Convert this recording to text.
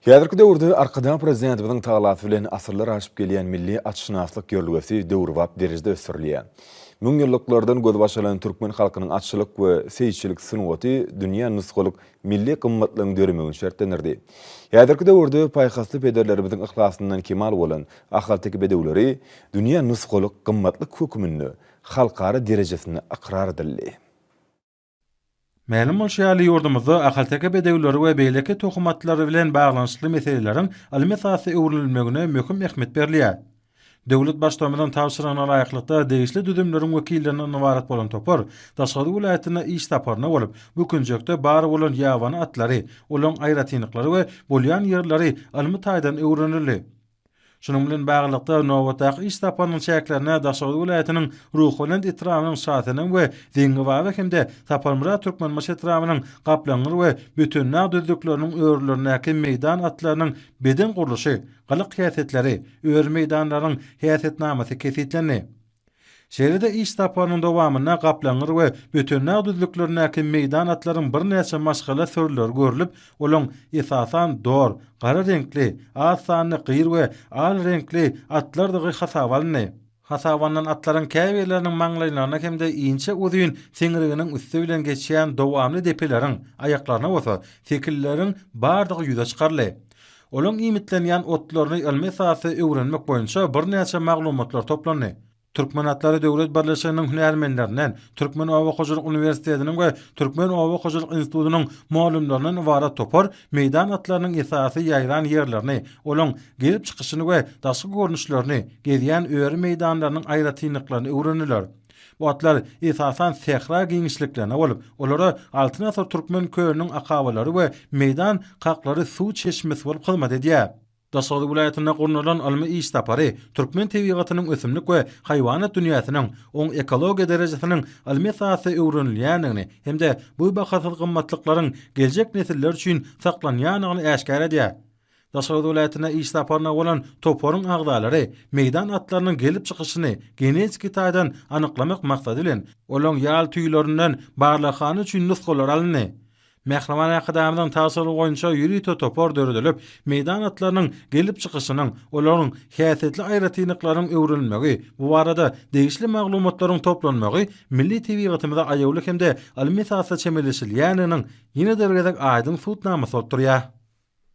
Häzirki döwürde Arkadag Prezidentimiziň talasy bilen asyrlar aşyp gelýän milli atşynaslyk ýörelgesi döwrebap derejede ösdürilýär. Müňýyllyklardan gözbaş alan türkmen halkynyň atçylyk we seýisçilik sungaty dünýä nusgalyk milli gymmatlygyň döremegini şertlendirdi. Häzirki döwürde paýhasly pederlerimiziň yhlasyndan kemal bolan ahalteke bedewleri dünýä nusgalyk gymmatlyk hökmünde halkara derejesinde ykrar edildi. Mälim bolşy ýaly, ýurdumyzda ahalteke bedewleri we beýleki tohum atlary bilen baglanyşykly meseleleriň ylmy esasda öwrenilmegine möhüm ähmiýet berilýär. Döwlet Baştutanymyzyň tabşyrygyna laýyklykda, degişli düzümleriň wekillerinden ybarat bolan topar daşary welaýatyna iş saparyna bolup, bu künjekde bar bolan ýabany atlary, olaryň aýratynlyklary we bolýan ýerleri ylmy taýdan öwrenildi. Şunuň bilen baglylykda, nobatdaky iş saparynyň çäklerinde Daşoguz welaýatynyň Ruhubelent etrabynyň Şasenem we Zeňňibaba hem-de Saparmyrat Türkmenbaşy etrabynyň Gaplaňgyr we Bötendag düzlükleriniň örülerindäki meýdan atlarynyň beden gurluşy, gylyk häsiýetleri, öri meýdanlarynyň häsiýetnamasy kesgitlendi. Şeýle-de iş saparynyň dowamynda Gaplaňgyr we Bötendag düzlüklerindäki meýdan atlaryň birnäçe maşgala sürüleri görlüp, olaň esasan dor, gara reňkli, az sanly gyr we al reňkli atlardygy hasaba alyndy. Hasaba alnan atlaryň käbirleriniň maňlaýlaryna hem-de inçe uzyn siňriginiň üsti bilen geçýän dowamly depeleriň, aýaklaryna bolsa, sekilleriň bardygy ýüze çykaryldy. Olaryň iýmitlenýän otlaryny ylmy esasda öwrenmek boýunça birnäçe maglumatlar toplandy. Türkmen atlary döwlet birleşiginiň hünärmenlerinden, Türkmen oba hojalyk uniwersitetiniň we Türkmen oba hojalyk institutynyň mugallymlaryndan ybarat topar meýdan atlarynyň esasy ýaýran ýerlerini, olaryň gelip çykyşyny we daşky görnüşlerini, gezýän öri meýdanlarynyň aýratynlyklaryny öwrendiler. Bu atlar, esasan, sähra giňişliklerine bolup, olara Altyn asyr türkmen kölüniň akabalary we meýdan kaklary suw çeşmesi bolup hyzmat edýär. Daşoguz welaýatynda gurnalan ylmy iş sapary türkmen tebigatynyň ösümlik we haýwanat dünýäsiniň oň ekologiýa derejesiniň ylmy esasda öwrenilýändigini hem-de bu bahasyz gymmatlyklaryň geljek nesiller üçin saklanýandygyny äşgär edýär. Daşoguz welaýatyna iş saparyna bolan toparyň agzalary meýdan atlarynyň gelip çykyşyny genetiki taýdan anyklamak maksady bilen, olaryň ýal tüýlerinden barlaghana üçin nusgalar alyndy. Mähriban Arkadagymyzyň tabşyrygy boýunça ýörite topar döredilip, meýdan atlarynyň gelip çykyşynyň, olaryň häsiýetli aýratynlyklarynyň öwrenilmegi, bu barada degişli maglumatlaryň toplanmagy milli tebigatymyza aýawly hem-de ylmy esasda çemeleşilýändiginiň ýene-de bir gezek aýdyň subutnamasy bolup durýar.